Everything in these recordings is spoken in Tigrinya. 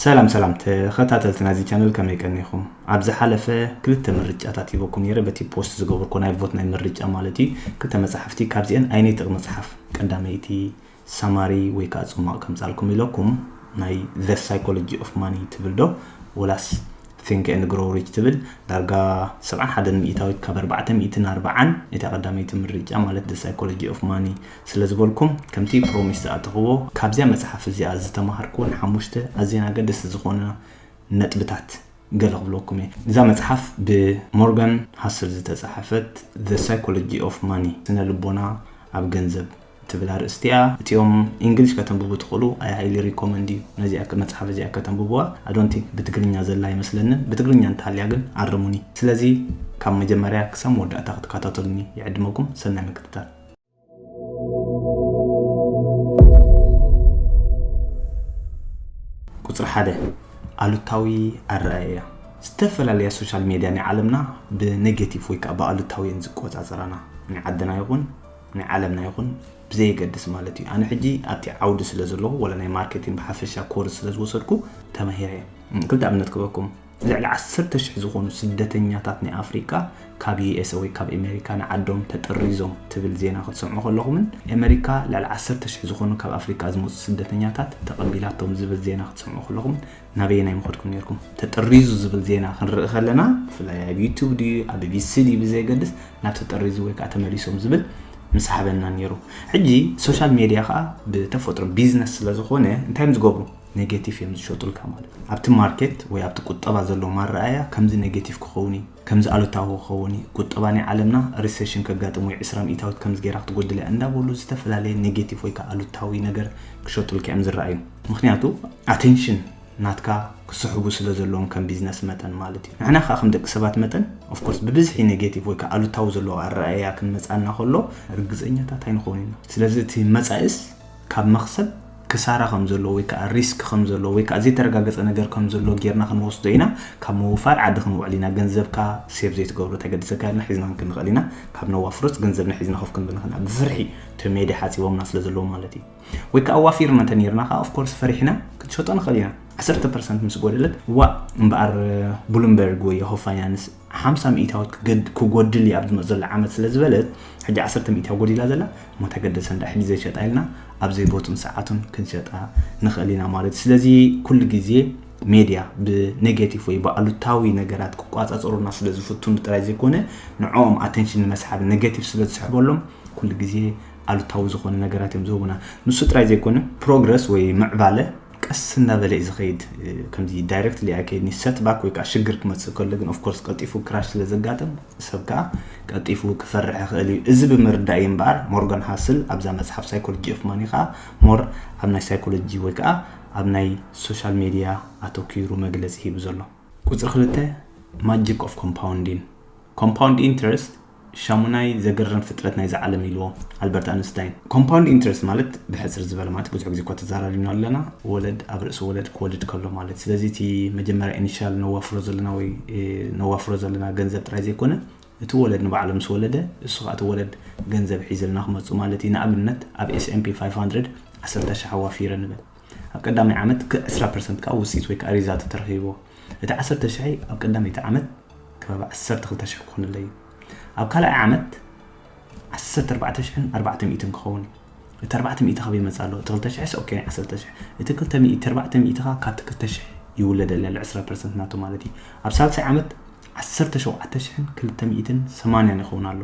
ሰላም ሰላም ተኸታተልቲ ናይዚ ቻነል ከመይ ቀኒኹም? ኣብ ዝሓለፈ ክልተ ምርጫታት ሂበኩም ነይረ በቲ ፖስት ዝገበርኩ ናይ ቮት ናይ ምርጫ ማለት እዩ ክልተ መጽሓፍቲ ካብዚአን ኣይነይትቕ መጽሓፍ ቀዳመይቲ ሳማሪ ወይ ከዓ ጽሟቕ ከምጻልኩም ኢለኩም ናይ ዘ ሳይኮሎጂ ኦፍ ማኒ ትብል ዶ ወላስ ቲንክ ኤንድ ግሮ ሪች ትብል ዳርጋ 71 ሚእታዊት ካብ 440 እታ ቀዳመይቲ ምርጫ ማለት ሳይኮሎጂ ኦፍ ማኒ ስለ ዝበልኩም ከምቲ ፕሮሚስ ዝኣተኽዎ ካብዚኣ መጽሓፍ እዚኣ ዝተማሃርክወን ሓሙሽተ ኣዝየን ኣገደስቲ ዝኾና ነጥብታት ገለ ክብለኩም እየ። እዛ መጽሓፍ ብ ሞርጋን ሃስል ዝተጻሕፈት The Psychology of Money፣ ስነ ልቦና ኣብ ገንዘብ፣ ትብል ኣርእስቲ እያ። እቲኦም ኢንግሊሽ ከተንብቡ ትኽእሉ I highly recommend you ነዚኣ መጽሓፍ እዚኣ ከተንብብዋ I don't think ብትግርኛ ዘላ ኣይመስለንን ብትግርኛ እንተሃልያ ግን ኣርሙኒ። ስለዚ ካብ መጀመርያ ክሳብ መወዳእታ ክትከታተሉኒ ይዕድመኩም ሰናይ ምክትታል። ቁፅሪ ሓደ ኣሉታዊ ኣረኣእያ ዝተፈላለያ ሶሻል ሜድያ ናይ ዓለምና ብኔጌቲቭ ወይ ከዓ ብኣሉታዊ እየን ዝቆፃፀራና ናይ ዓድና ይኹን ናይ ዓለምና ይኹን ብዘየገድስ ማለት እዩ ኣነ ሕጂ ኣብቲ ዓውዲ ስለ ዘለኹ ወላ ናይ ማርኬቲንግ ብሓፈሻ ኮርስ ስለ ዝወሰድኩ ተማሂረ ክልተ ኣብነት ክበኩም ልዕሊ ዓሰርተ ሽሕ ዝኾኑ ስደተኛታት ናይ ኣፍሪቃ ካብ ዩኤሰ ወይ ካብ ኤመሪካ ንዓዶም ተጠሪዞም ትብል ዜና ክትሰምዑ ከለኹምን ኤመሪካ ልዕሊ ዓሰርተ ሽሕ ዝኾኑ ካብ ኣፍሪቃ ዝመጹ ስደተኛታት ተቐቢላቶም ዝብል ዜና ክትሰምዑ ከለኹም ናበየናይ ምኸድኩም ነርኩም? ተጠሪዙ ዝብል ዜና ክንርኢ ከለና ብፍላይ ኣብ ዩቱብ ድዩ ኣብ ቢቢሲ ድዩ ብዘይገድስ ናብ ተጠሪዙ ወይ ከዓ ተመሊሶም ዝብል ምሳሓበና ነይሩ ሕጂ ሶሻል ሜድያ ከዓ ብተፈጥሮ ቢዝነስ ስለ ዝኾነ እንታይ እዮም ዝገብሩ ኔጌቲቭ እዮም ዝሸጡልካ ማለት እዩ። ኣብቲ ማርኬት ወይ ኣብቲ ቁጠባ ዘሎ ማረኣያ ከምዚ ኔጌቲቭ ክኸውን እዩ፣ ከምዚ ኣሉታዊ ክኸውን እዩ፣ ቁጠባ ናይ ዓለምና ሪሰሽን ከጋጥም ወይ ዕስራ ሚእታዊት ከምዚ ገይራ ክትጎድል እያ እንዳበሉ ዝተፈላለየ ኔጌቲቭ ወይ ከኣ ኣሉታዊ ነገር ክሸጡልካ እዮም ዝረኣዩ። ምኽንያቱ ኣቴንሽን ናትካ ክስሕቡ ስለ ዘለዎም ከም ቢዝነስ መጠን ማለት እዩ። ንሕና ከኣ ከም ደቂ ሰባት መጠን ኦፍ ኮርስ ብብዝሒ ኔጌቲቭ ወይ ከኣ ኣሉታዊ ዘለዎ ኣረኣእያ ክንመጽኣና ከሎ ርግጸኛታት ኣይንኸውንን ኢና። ስለዚ እቲ መጻኢስ ካብ መኽሰብ ክሳራ ከም ዘሎ ወይ ከኣ ሪስክ ከም ዘሎ ወይ ከኣ ዘይተረጋገጸ ነገር ከም ዘሎ ጌርና ክንወስዶ ኢና። ካብ ምውፋር ዓዲ ክንውዕል ኢና። ገንዘብካ ሴቭ ዘይትገብሮ እንተገዲሰካ ኢልና ሒዝና ክንክንኽእል ኢና። ካብ ነዋፍሮስ ገንዘብና ሒዝና ኮፍ ክንብል ንኽእልና ብፍርሒ እቶም ሜድያ ሓጺቦምና ስለ ዘለዉ ማለት እዩ። ወይ ከኣ ኣዋፊርና እንተ ኔርና ከኣ ኦፍ ኮርስ ፈሪሕና ክንሸጦ ንኽእል ኢና። ዓሰርተ ፐርሰንት ምስ ጎደለት ዋእ እምበኣር ብሉምበርግ ወይ የሆ ፋይናንስ ሓምሳ ሚኢታዊት ክጎድል እየ ኣብ ዝመፅ ዘሎ ዓመት ስለ ዝበለት ሕጂ ዓሰርተ ሚኢታዊ ጎዲላ ዘላ እሞ ተገደሰ እንዳ ሕጂ ዘይሸጣ ኢልና ኣብ ዘይቦቱን ሰዓቱን ክንሸጣ ንኽእል ኢና ማለት እዩ ስለዚ ኩሉ ግዜ ሜድያ ብኔጌቲቭ ወይ ብኣሉታዊ ነገራት ክቋፃፀሩና ስለ ዝፍትኑ ጥራይ ዘይኮነ ንዕኦም ኣቴንሽን ንመስሓብ ኔጌቲቭ ስለ ዝስሕበሎም ኩሉ ግዜ ኣሉታዊ ዝኾነ ነገራት እዮም ዝህቡና ንሱ ጥራይ ዘይኮነ ፕሮግረስ ወይ ምዕባለ ቀስ እንዳበለ እዩ ዝኸይድ ከምዚ ዳይረክትሊ ኣይከይድን ሰት ባክ ወይ ከዓ ሽግር ክመፅእ ከሎ ግን ኦፍኮርስ ቀልጢፉ ክራሽ ስለ ዘጋጥም ሰብ ከዓ ቀልጢፉ ክፈርሕ ይኽእል እዩ እዚ ብምርዳእ እዩ እምበኣር ሞርጋን ሃስል ኣብዛ መፅሓፍ ሳይኮሎጂ ኦፍ ማኒ ከዓ ሞር ኣብ ናይ ሳይኮሎጂ ወይ ከዓ ኣብ ናይ ሶሻል ሜድያ ኣተኪሩ መግለፂ ሂቡ ዘሎ ቁፅሪ ክልተ ማጂክ ኦፍ ኮምፓውንዲን ኮምፓውንድ ኢንትረስት ሻሙናይ ዘገርም ፍጥረት ናይዛ ዓለም ኢልዎ ኣልበርት ኣንስታይን። ኮምፓውንድ ኢንተረስት ማለት ብሕጽር ዝበለ ማለት ብዙሕ ግዜ እኳ ተዛራሪብናዮ ኣለና ወለድ ኣብ ርእሲ ወለድ ክወልድ ከሎ ማለት ስለዚ እቲ መጀመርያ ኢኒሻል ነዋፍሮ ዘለና ወይ ነዋፍሮ ዘለና ገንዘብ ጥራይ ዘይኮነ እቲ ወለድ ንባዕሉ ምስ ወለደ እሱ ከኣ እቲ ወለድ ገንዘብ ሒዝልና ክመጹ ማለት እዩ ንኣብነት ኣብ ኤስ ኤን ፒ ፋይፍ ሃንድረድ ዓሰርተ ሽሕ ኣዋፊረ ንበል ኣብ ቀዳማይ ዓመት ክዕ ዕስራ ፐርሰንት ከኣ ውጽኢት ወይ ከኣ ሪዛልት ተረኺብዎ። እቲ ዓሰርተ ሽሕይ ኣብ ቀዳመይቲ ዓመት ከባቢ ዓሰርተ ክልተ ሽሕ ክኾነለይ እዩ። ኣብ ካልኣይ ዓመት ዓሰርተ ኣርባዕተ ሽሕን ኣርባዕተ ሚእትን ክኸውን እዩ። እቲ ኣርባዕተ ሚእቲ ካበይ ይመጽእ ኣሎ? እቲ ክልተ ሽሕስ ኦኬ ናይ ዓሰርተ ሽሕ። እቲ ክልተ ሚእቲ ኣርባዕተ ሚእቲ ከኣ ካብቲ ክልተ ሽሕ ይውለደለይ ኣሎ ዕስራ ፐርሰንት ናቱ ማለት እዩ። ኣብ ሳልሳይ ዓመት ዓሰርተ ሸውዓተ ሽሕን ክልተ ሚእትን ሰማንያን ይኸውን ኣሎ።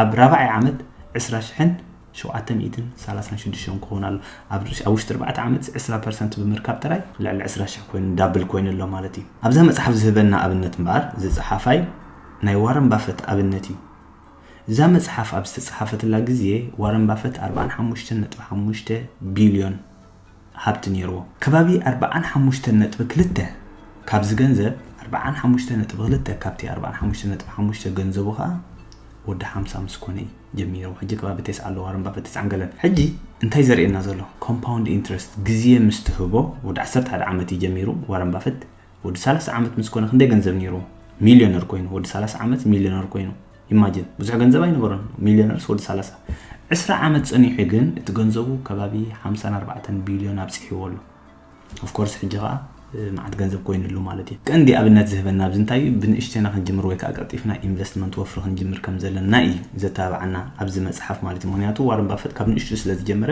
ኣብ ራብዓይ ዓመት ዕስራ ሽሕን ሸውዓተ ሚእትን ሰላሳን ሽዱሽተን ክኸውን ኣሎ። ኣብ ኣብ ውሽጢ ኣርባዕተ ዓመት ዕስራ ፐርሰንት ብምርካብ ጥራይ ልዕሊ ዕስራ ሽሕ ኮይኑ ዳብል ኮይኑ ኣሎ ማለት እዩ። ኣብዛ መጽሓፍ ዝህበና ኣብነት እምበኣር እዚ ጸሓፋይ ናይ ዋረን ባፈት ኣብነት እዩ። እዛ መጽሓፍ ኣብ ዝተጸሓፈትላ ግዜ ዋረን ባፈት ኣርብዓን ሓሙሽተን ነጥቢ ሓሙሽተ ቢልዮን ሃብቲ ነይርዎ። ከባቢ ኣርብዓን ሓሙሽተን ነጥቢ ክልተ ካብዚ ገንዘብ ኣርብዓን ሓሙሽተ ነጥቢ ክልተ ካብቲ ኣርብዓን ሓሙሽተ ነጥቢ ሓሙሽተ ገንዘቡ ከኣ ወዲ ሓምሳ ምስ ኮነ እዩ ጀሚርዎ ሕጂ ከባቢ ተስዓ ኣለዎ ኣረምባ ፍትስዓን ገለን ሕጂ እንታይ ዘርእየና ዘሎ ኮምፓውንድ ኢንትረስት ግዜ ምስ ትህቦ ወዲ ዓሰርተ ሓደ ዓመት እዩ ጀሚሩ ዋረን ባፈት ወዲ ሰላሳ ዓመት ምስ ኮነ ክንደይ ገንዘብ ነይርዎ ሚልዮነር ኮይኑ ወዲ ሰላሳ ዓመት ሚልዮነር ኮይኑ ኢማጅን ብዙሕ ገንዘብ ኣይነበሮን ሚልዮነርስ ወዲ ሰላሳ ዕስራ ዓመት ጸኒሑ ግን እቲ ገንዘቡ ከባቢ ሓምሳን ኣርባዕተን ቢልዮን ኣብጽሕዎ ኣሎ ኦፍኮርስ ሕጂ ከኣ መዓት ገንዘብ ኮይኑሉ ማለት እዩ ቀንዲ ኣብነት ዝህበና ኣብዚ እንታይ እዩ ብንእሽተና ክንጅምር ወይ ከዓ ቀልጢፍና ኢንቨስትመንት ወፍሪ ክንጅምር ከም ዘለና እዩ ዘተባብዓና ኣብዚ መፅሓፍ ማለት እዩ ምክንያቱ ዋረን ባፈት ካብ ንእሽቱ ስለ ዝጀመረ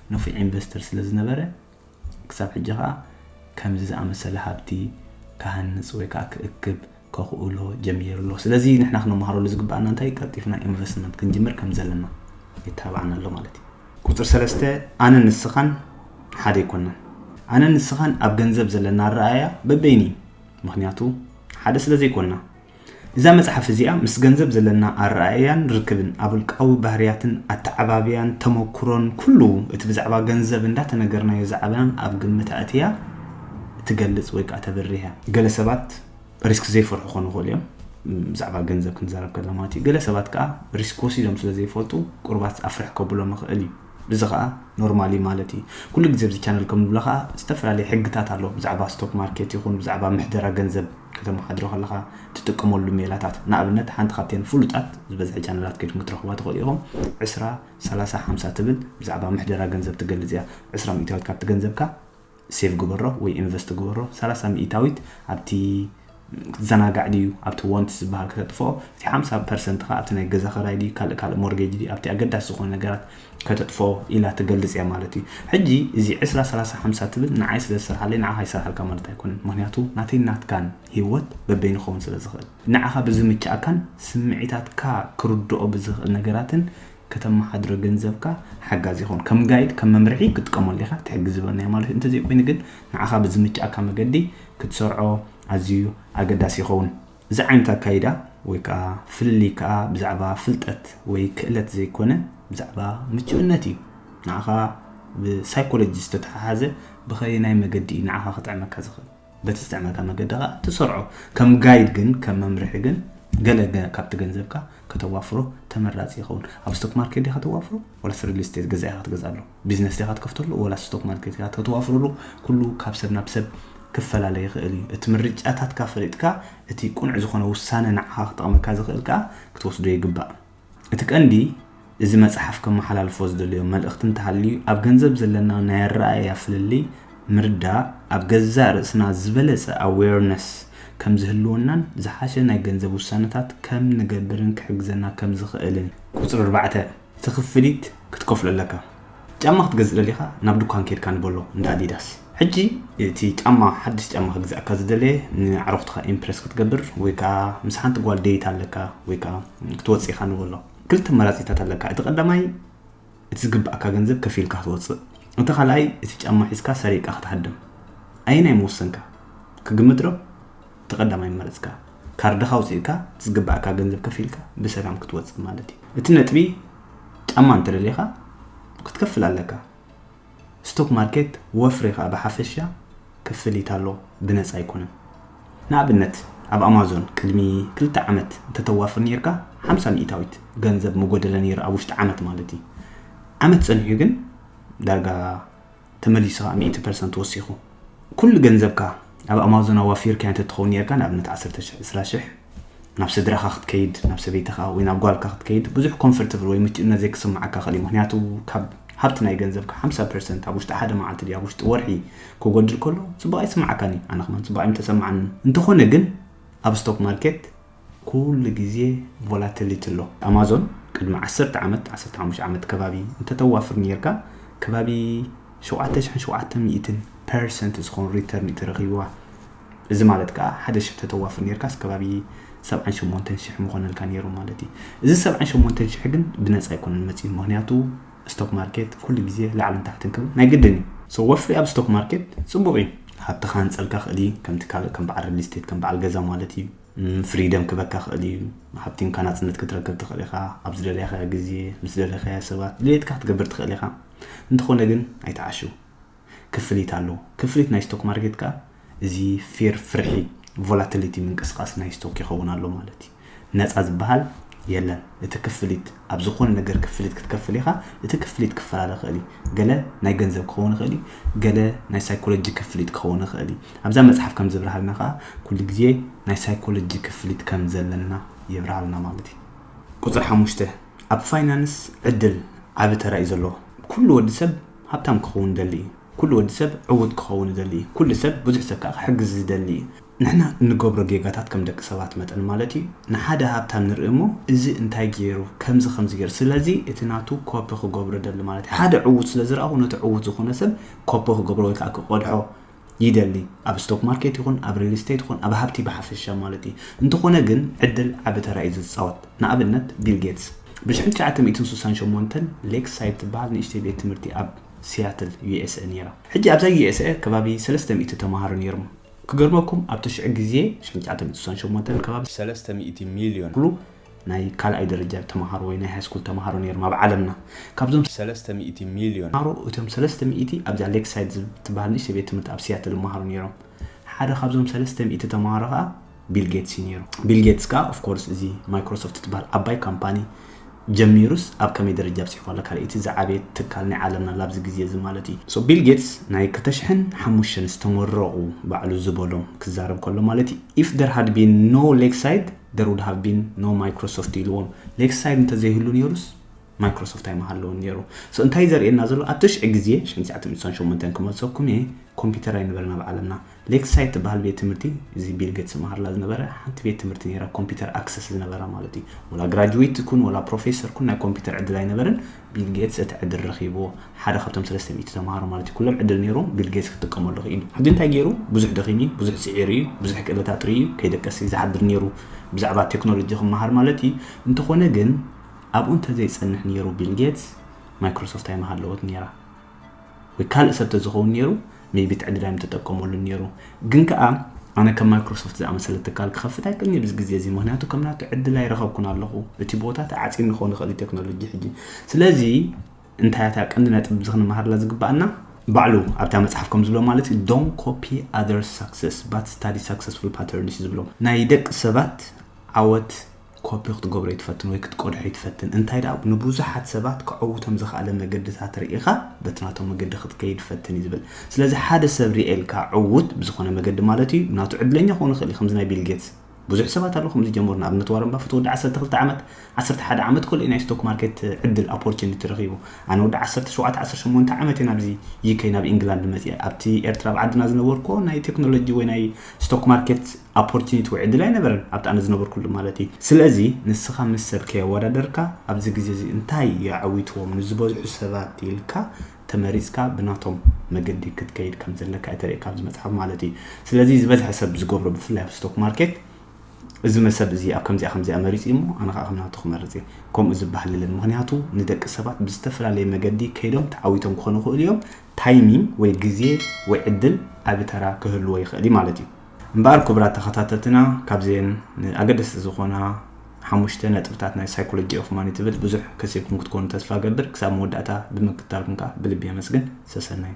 ንፉዕ ኢንቨስተር ስለ ዝነበረ፣ ክሳብ ሕጂ ከኣ ከምዚ ዝኣመሰለ ሃብቲ ክሃንጽ ወይ ከኣ ክእክብ ከኹእሎ ጀሚሩ ኣሎ። ስለዚ ንሕና ክነመሃረሉ ዝግበኣና እንታይ ቀልጢፍና ኢንቨስትመንት ክንጅምር ከም ዘለና የተባብዓና ኣሎ ማለት እዩ። ቁጽሪ ሰለስተ፣ ኣነን ንስኻን ሓደ ኣይኮናን። ኣነን ንስኻን ኣብ ገንዘብ ዘለና ኣረኣእያ በበይኑ እዩ። ምኽንያቱ ሓደ ስለ ዘይኮና። እዛ መጽሓፍ እዚኣ ምስ ገንዘብ ዘለና ኣረኣእያን ርክብን፣ ኣብ ውልቃዊ ባህርያትን ኣተዓባብያን ተመኩሮን ኩሉ እቲ ብዛዕባ ገንዘብ እንዳተነገርናዮ ዝዓበናን ኣብ ግምት ኣእትያ ትገልጽ ወይ ከኣ ተብርህ እያ። ገለ ሰባት ሪስክ ዘይፈርሑ ክኾኑ ይኽእሉ እዮም፣ ብዛዕባ ገንዘብ ክንዛረብ ከለና ማለት እዩ። ገለ ሰባት ከኣ ሪስክ ወሲዶም ስለ ዘይፈልጡ ቁሩባት ኣፍርሕ ከብሎም ይኽእል እዩ። እዚ ከኣ ኖርማል እዩ ማለት እዩ። ኩሉ ግዜ ኣብዚ ቻነል ከም ንብሎ ከኣ ዝተፈላለየ ሕግታት ኣሎ ብዛዕባ ስቶክ ማርኬት ይኹን ብዛዕባ ምሕደራ ገንዘብ። ከተመሓድሮ ከለኻ ትጥቀመሉ ሜላታት፣ ንኣብነት ሓንቲ ካብተን ፍሉጣት ዝበዝሐ ቻነላት ኬድኩም ክትረኽቡዋ ትኽእሉ ኢኹም፣ ዕስራ፣ ሰላሳ፣ ሓምሳ ትብል ብዛዕባ ምሕደራ ገንዘብ ትገልጽ እያ። ዕስራ ሚእታዊት ካብቲ ገንዘብካ ሴቭ ግበሮ ወይ ኢንቨስት ግበሮ፣ ሰላሳ ሚእታዊት ኣብቲ ክትዘናጋዕ ድዩ ኣብቲ ዋንትስ ዝበሃል ከተጥፍኦ፣ እቲ ሓምሳ ፐርሰንትኻ ኣብቲ ናይ ገዛ ክራይ ድዩ ካልእ ካልእ ሞርጌጅ ድዩ ኣብቲ ኣገዳሲ ዝኾኑ ነገራት ከተጥፍኦ ኢላ ትገልጽ እያ ማለት እዩ። ሕጂ እዚ ዕስራ ሰላሳ ሓምሳ ትብል ንዓይ ስለ ዝሰርሓለይ ንዓኻ ይሰርሓልካ ማለት ኣይኮነን። ምኽንያቱ ናተይን ናትካን ሂወት በበይኑ ክኸውን ስለ ዝኽእል። ንዓኻ ብዝምችኣካን ስምዒታትካ ክርድኦ ብዝኽእል ነገራትን ከተመሓድሮ ገንዘብካ ሓጋዚ ይኸውን። ከም ጋይድ ከም መምርሒ ክትጥቀመሉ ኢኻ፣ ትሕግዝበን እያ ማለት እዩ። እንተዘይኮይኑ ግን ንዓኻ ብዝምችኣካ መገዲ ክትሰርዖ ኣዝዩ ኣገዳሲ ይኸውን። እዚ ዓይነት ኣካይዳ ወይ ከኣ ፍልልይ ከኣ ብዛዕባ ፍልጠት ወይ ክእለት ዘይኮነ ብዛዕባ ምቹእነት እዩ። ንዓኻ ብሳይኮሎጂ ዝተተሓሓዘ ብኸየናይ መገዲ እዩ ንዓኻ ክጥዕመካ ዝኽእል? በቲ ዝጥዕመካ መገዲ ከኣ ትሰርዖ። ከም ጋይድ ግን ከም መምርሒ ግን ገለ ካብቲ ገንዘብካ ከተዋፍሮ ተመራጺ ይኸውን። ኣብ ስቶክ ማርኬት ዲኻ ተዋፍሮ ዋላስ ሪል ስቴት ገዛ ኢኻ ክትገዝኣሉ? ቢዝነስ ዲኻ ትከፍተሉ ወላስ ስቶክ ማርኬት ኢኻ ተተዋፍረሉ ኩሉ ካብ ሰብ ናብ ሰብ ክፈላለ ይኽእል እዩ። እቲ ምርጫታትካ ፈሊጥካ እቲ ቁኑዕ ዝኾነ ውሳነ ንዓኻ ክጠቕመካ ዝኽእል ከኣ ክትወስዶ ይግባእ። እቲ ቀንዲ እዚ መጽሓፍ ከመሓላልፎ ዝደልዮ መልእኽቲ እንተሃልዩ ኣብ ገንዘብ ዘለና ናይ ኣረኣእያ ፍልልይ ምርዳእ ኣብ ገዛእ ርእስና ዝበለጸ ኣዌርነስ ከም ዝህልወናን ዝሓሸ ናይ ገንዘብ ውሳነታት ከም ንገብርን ክሕግዘና ከም ዝኽእልን። ቁጽሪ ኣርባዕተ፣ እቲ ክፍሊት ክትከፍሎ ኣለካ። ጫማ ክትገዝእ ደሊኻ ናብ ዱካን ኬድካ ንበሎ እንዳ ኣዲዳስ። ሕጂ እቲ ጫማ ሓድሽ ጫማ ክግዛኣካ ዝደለየ ንኣዕሩኽትኻ ኢምፕረስ ክትገብር ወይ ከኣ ምስ ሓንቲ ጓል ደይት ኣለካ ወይ ከኣ ክትወጽእ ኢኻ ንበሎ። ክልተ ኣማራጺታት ኣለካ እቲ ቀዳማይ እቲ ዝግባኣካ ገንዘብ ከፊልካ ክትወጽእ እቲ ካልኣይ እቲ ጫማ ሒዝካ ሰሪቕካ ክትሃድም። ኣየናይ ምወሰንካ? ክግምትዶ? እቲ ቀዳማይ ምመረጽካ ካርድኻ ኣውጺእካ እቲ ዝግባኣካ ገንዘብ ከፊልካ ብሰላም ክትወጽእ ማለት እዩ እቲ ነጥቢ ጫማ እንተደሊኻ ክትከፍል ኣለካ ስቶክ ማርኬት ወፍሪ ከኣ ብሓፈሻ ክፍሊት ኣሎ ብነጻ ኣይኮነን ንኣብነት ኣብ ኣማዞን ቅድሚ ክልተ ዓመት እንተተዋፍር ነርካ ሓምሳ ሚእታዊት ገንዘብ ምጎደለ ነይሩ ኣብ ውሽጢ ዓመት ማለት እዩ ዓመት ጸኒሑ ግን ዳርጋ ተመሊሱ ከኣ ሚእቲ ፐርሰንት ወሲኹ ኩሉ ገንዘብካ ኣብ ኣማዞን ኣዋፊርካዮ እንተትኸውን ኔርካ ንኣብነት ዓሰርተ ሽሕ ዕስራ ሽሕ ናብ ስድራኻ ክትከይድ ናብ ሰበይትኻ ወይ ናብ ጓልካ ክትከይድ ብዙሕ ኮንፈርትብል ወይ ምቹእነት ዘይክስምዓካ ይኽእል እዩ ምክንያቱ ካብ ሃብቲ ናይ ገንዘብካ ሓምሳ ፐርሰንት ኣብ ውሽጢ ሓደ መዓልቲ ድዩ ኣብ ውሽጢ ወርሒ ክጎድል ከሎ ጽቡቕ ኣይስምዓካን እዩ ኣነ ከማን ጽቡቕ ኣይምተሰምዓንን እንተኾነ ግን ኣብ ስቶክ ማርኬት ኩሉ ግዜ ቮላተሊቲ ኣሎ። ኣማዞን ቅድሚ ዓሰርተ ዓመት ዓሰርተ ሓሙሽተ ዓመት ከባቢ እንተተዋፍር ኔርካ ከባቢ ሸውዓተ ሽሕን ሸውዓተ ሚእትን ፐርሰንት ዝኸውን ሪተርን እዩ ተረኺብዋ። እዚ ማለት ከኣ ሓደ ሽሕ ተተዋፍር ኔርካስ ከባቢ ሰብዓን ሸሞንተን ሽሕ ምኾነልካ ኔሩ ማለት እዩ። እዚ ሰብዓን ሸሞንተን ሽሕ ግን ብነጻ ኣይኮነን መጺኡ ምኽንያቱ ስቶክ ማርኬት ኩሉ ግዜ ላዕልን ታሕትን ክብል ናይ ግድን እዩ። So ወፍሪ ኣብ ስቶክ ማርኬት ጽቡቕ እዩ። ሃብትኻ ክንጸልካ ክእል እዩ ከምቲ ካልእ ከም በዓል ሪል ስቴት ከም በዓል ገዛ ማለት እዩ። ፍሪደም ክበካ ክእል እዩ ሓብቲምካ ናጽነት ክትረክብ ትኽእል ኢኻ ኣብ ዝደለኻዮ ግዜ ምስ ደለኻዮ ሰባት ድሌትካ ክትገብር ትኽእል ኢኻ እንተኾነ ግን ኣይትዓሽው ክፍሊት ኣሎ ክፍሊት ናይ ስቶክ ማርኬት ከኣ እዚ ፌር ፍርሒ ቮላቲሊቲ ምንቅስቃስ ናይ ስቶክ ይኸውን ኣሎ ማለት እዩ ነፃ ዝበሃል የለን እቲ ክፍሊት ኣብ ዝኾነ ነገር ክፍሊት ክትከፍል ኢኻ እቲ ክፍሊት ክፈላለ ይኽእል እዩ ገለ ናይ ገንዘብ ክኸውን ይኽእል እዩ ገለ ናይ ሳይኮሎጂ ክፍሊት ክኸውን ይኽእል እዩ ኣብዛ መጽሓፍ ከም ዝብርሃልና ከኣ ኩሉ ግዜ ናይ ሳይኮሎጂ ክፍሊት ከም ዘለና የብርሃልና ማለት እዩ ቁጽሪ ሓሙሽተ ኣብ ፋይናንስ ዕድል ዓቢ ተራ እዩ ዘለዎ ኩሉ ወዲ ሰብ ሃብታም ክኸውን ይደሊ እዩ ኩሉ ወዲ ሰብ ዕውት ክኸውን ይደሊ እዩ ኩሉ ሰብ ብዙሕ ሰብ ከኣ ክሕግዝ ዝደሊ እዩ ንሕና እንገብሮ ጌጋታት ከም ደቂ ሰባት መጠን ማለት እዩ ንሓደ ሃብታም ንርኢ እሞ እዚ እንታይ ጌሩ ከምዚ ከምዚ ጌሩ ስለዚ እቲ ናቱ ኮፒ ክገብሮ እደሊ ማለት እዩ ሓደ ዕዉት ስለ ዝረኣኹ ነቲ ዕዉት ዝኾነ ሰብ ኮፒ ክገብሮ ወይ ከዓ ክቀድሖ ይደሊ ኣብ ስቶክ ማርኬት ይኹን ኣብ ሪል ስቴት ይኹን ኣብ ሃብቲ ብሓፈሻ ማለት እዩ እንተኾነ ግን ዕድል ዓቢ ተራ እዩ ዝፃወት ንኣብነት ቢል ጌትስ ብ1968 ሌክ ሳይድ ትበሃል ንእሽተይ ቤት ትምህርቲ ኣብ ሲያትል ዩኤስኤ ነይራ ሕጂ ኣብዛ ዩኤስኤ ከባቢ 300 ተምሃሮ ነይሮም ክገርመኩም ኣብቲ ሽዑ ግዜ ሽሕን ትሽዓተ ሚእትን ስሳን ሸሞንተን ከባቢ ሰለስተ ሚእቲ ሚልዮን ዝኣክሉ ናይ ካልኣይ ደረጃ ተማሃሮ ወይ ናይ ሃይስኩል ተማሃሮ ነይሮም ኣብ ዓለምና ካብዞም ሰለስተ ሚእቲ ሚልዮን ተማሃሮ እቶም ሰለስተ ሚእቲ ኣብዛ ሌክሳይድ ዝትብሃል ንእሽተይ ቤት ትምህርቲ ኣብ ሲያትል ይመሃሩ ነይሮም ሓደ ካብዞም ሰለስተ ሚእቲ ተማሃሮ ከኣ ቢል ጌትስ እዩ ነይሩ ቢል ጌትስ ከኣ ኦፍ ኮርስ እዚ ማይክሮሶፍት ትብሃል ዓባይ ካምፓኒ ጀሚሩስ ኣብ ከመይ ደረጃ ኣብጺሕዋ ኣሎ ካልኣይቲ ዝዓበየት ትካል ናይ ዓለምና ኣላ ኣብዚ ግዜ እዚ ማለት እዩ so ቢል ጌትስ ናይ ክልተ ሽሕን ሓሙሽተን ዝተመረቑ ባዕሉ ዝበሎም ክዛረብ ከሎ ማለት እዩ if there had been no Lakeside there would have been no Microsoft ኢልዎም Lakeside እንተዘይህሉ ኔሩስ ማይክሮሶፍት ኣይምሃለውን ኔሩ so እንታይ ዘርእየና ዘሎ ኣብ ትሽዒ ግዜ ሽሕን ትስዓተ ሚእትን ሸሞንተን ክመልሰኩም እየ ኮምፒተር ኣይነበረን ኣብ ዓለምና ሌክሳይድ ትበሃል ቤት ትምህርቲ እዚ ቢል ጌትስ ዝመሃርላ ዝነበረ ሓንቲ ቤት ትምህርቲ ነይራ ኮምፒተር ኣክሰስ ዝነበራ ማለት እዩ ወላ ግራጅዌት ትኩን ወላ ፕሮፌሰር ኩን ናይ ኮምፒተር ዕድል ኣይነበርን ቢል ጌትስ እቲ ዕድል ረኺብዎ ሓደ ካብቶም ሰለስተ ሚእቲ ተምሃሮ ማለት እዩ ኩሎም ዕድል ነይሮም ቢል ጌትስ ክጥቀመሉ ክኢሉ ሕጂ እንታይ ገይሩ ብዙሕ ደኺሙ እዩ ብዙሕ ስዒሩ እዩ ብዙሕ ክእለት ኣጥርዩ እዩ ከይደቀስ እዩ ዝሓድር ነይሩ ብዛዕባ ቴክኖሎጂ ክመሃር ማለት እዩ እንተኾነ ግን ኣብኡ እንተዘይጸንሕ ነይሩ ቢል ጌትስ ማይክሮሶፍት ኣይመሃለወት ነይራ ወይ ካልእ ሰብ ተዝኸውን ኔሩ ሜይቢ ትዕድላይ ምተጠቀመሉን ኔሩ ግን ከኣ ኣነ ከም ማይክሮሶፍት ዝኣመሰለ ትካል ክኸፍት ኣይክእልን ኣብዚ ግዜ እዚ ምክንያቱ ከም ናቱ ዕድል ኣይረኸብኩን ኣለኹ እቲ ቦታ ተዓጺኒ ክኸውን ይኽእል እዩ ቴክኖሎጂ ሕጂ ስለዚ እንታይ እታ ቀንዲ ነጥቢ እዚ ክንመሃርላ ዝግባኣና ባዕሉ ኣብታ መጽሓፍ ከም ዝብሎ ማለት እዩ ዶን ኮፒ ኣር ሳክሰስ ባት ስታዲ ሳክሰስፉል ፓተርንስ ዝብሎ ናይ ደቂ ሰባት ዓወት ኮፒ ክትገብሮ ኣይትፈትን ወይ ክትቀድሖ ኣይትፈትን፣ እንታይ ደኣ ንብዙሓት ሰባት ከዐውቶም ዝኸኣለ መገድታት ርኢኻ በቲ ናቶም መገዲ ክትከይድ ፈትን እዩ ዝብል። ስለዚ ሓደ ሰብ ርኤልካ ዕዉት ብዝኾነ መገዲ ማለት እዩ ናቱ ዕድለኛ ክኸውን ይኽእል እዩ ከምዚ ናይ ቢል ጌትስ ብዙሕ ሰባት ኣለዉ ከምዚ ዝጀመሩ ንኣብነት ዋረን ባፈት ወዲ ዓሰርተ ክልተ ዓመት ዓሰርተ ሓደ ዓመት ኮልኡ ናይ ስቶክ ማርኬት ዕድል ኣፖርቹኒቲ ረኺቡ ኣነ ወዲ ዓሰርተ ሸውዓተ ዓሰርተ ሸሞንተ ዓመት እየ ናብዚ ዩኬ ናብ ኢንግላንድ መፅአ ኣብቲ ኤርትራ ኣብ ዓድና ዝነበርኩ ናይ ቴክኖሎጂ ወይ ናይ ስቶክ ማርኬት ኣፖርቲኒቲ ወይ ዕድል ኣይነበረን ኣብቲ ኣነ ዝነበርኩሉ ማለት እዩ ስለዚ ንስኻ ምስ ሰብ ከየወዳደርካ ኣብዚ ግዜ እዚ እንታይ የዐዊትዎም ንዝበዝሑ ሰባት ኢልካ ተመሪጽካ ብናቶም መገዲ ክትከይድ ከም ዘለካ እዩ ተርእካ ኣብዚ መጽሓፍ ማለት እዩ ስለዚ ዝበዝሐ ሰብ ዝገብሮ ብፍላይ ኣብ ስቶክ ማርኬት እዚ መሰብ እዚ ኣብ ከምዚኣ ከምዚኣ መሪጽ እዩ እሞ ኣነ ከዓ ከም ናቱ ክመርጽ እየ ከምኡ ዝበሃል የለን ምክንያቱ ንደቂ ሰባት ብዝተፈላለየ መገዲ ከይዶም ተዓዊቶም ክኾኑ ይኽእሉ እዮም ታይሚንግ ወይ ግዜ ወይ ዕድል ዓቢ ተራ ክህልዎ ይኽእል ማለት እዩ እምበኣር ክቡራት ተኸታተልትና ካብዘን ኣገደስቲ ዝኾና ሓሙሽተ ነጥብታት ናይ ሳይኮሎጂ ኦፍ ማኒ ትብል ብዙሕ ከሲብኩም ክትኮኑ ተስፋ ገብር ክሳብ መወዳእታ ብምክትታልኩም ከኣ ብልቢ የመስግን ሰሰናዩ